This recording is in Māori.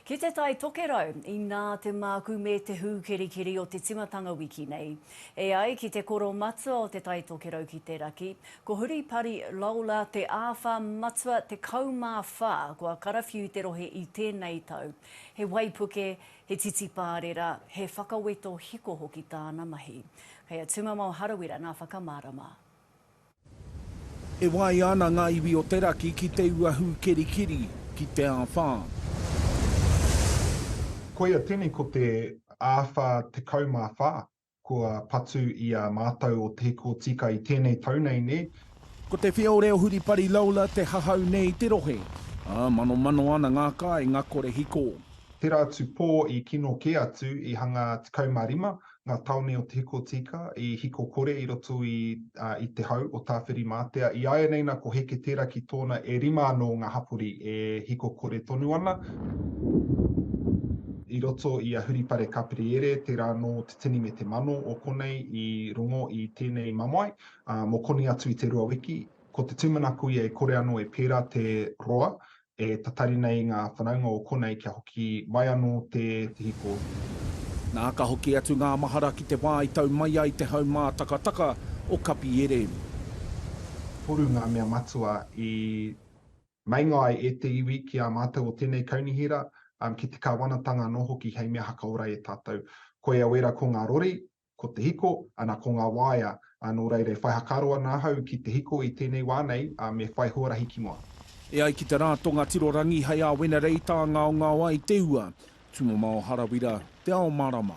Ki te Tai Tokerau, inā te mākū me te hūkerikeri o te timatanga wiki nei. E ai ki te koro matua o Te Tai Tokerau ki te Raki, ko Huripari Lawler te āwhā matua 14 kua karawhiu te rohe i tēnei tau. He waipuke, he titipārera, he whakaweto hiko hoki tāna mahi. Kei a Tūmamao Harawira ngā whakamārama. E waia ana ngā iwi o te raki ki te ua hūkerikeri, ki te āwhā. Koia tēnei ko te āwhā tekau mā whā kua patu i a mātou o Te Hiko Tika i tēnei tau nei, nē? Ko te whio reo huripari Lola te hahau nē i te rohe, ā, manomano ana ngā kāinga kore hiko. Tērā atu pō i kino kē atu i hanga 15 ngā tāone o Te Hikotīka i hiko kore i roto i i te hau o Tāwhirimātea. I āianei nā ko Heke tērā ki tōna e rima anō ngā hapori e hiko kore tonu ana. I roto i a Huripare Kapiriere tērā anō te tini me te mano o konei i rongo i tēnei mamae mō konei atu i te rua wiki. Ko te tūmanako ia e kore anō e pērā te roa e tatari nei ngā whanaunga o konei kia hoki mai anō te hiko. Nā, ka hoki atu ngā mahara ki te wā i tau mai ai te haumātakataka o Kapiere. Toru ngā mea matua i meinga ai e te iwi ki a mātou o tēnei kaunihera, ki te Kāwanatanga anō hoki hei mea hakaora e tātou. Koia wera ko ngā rori, ko te hiko, ana ko ngā waea, ā, nō reira e whai whakaaro ana ahau ki te hiko i tēnei wā nei, ā, me whai huarahi ki mua. E ai ki te Rātonga Tirorangi hei āwena reita ngaongao ai te ua, Tūmamao Harawira, Te Ao Marama.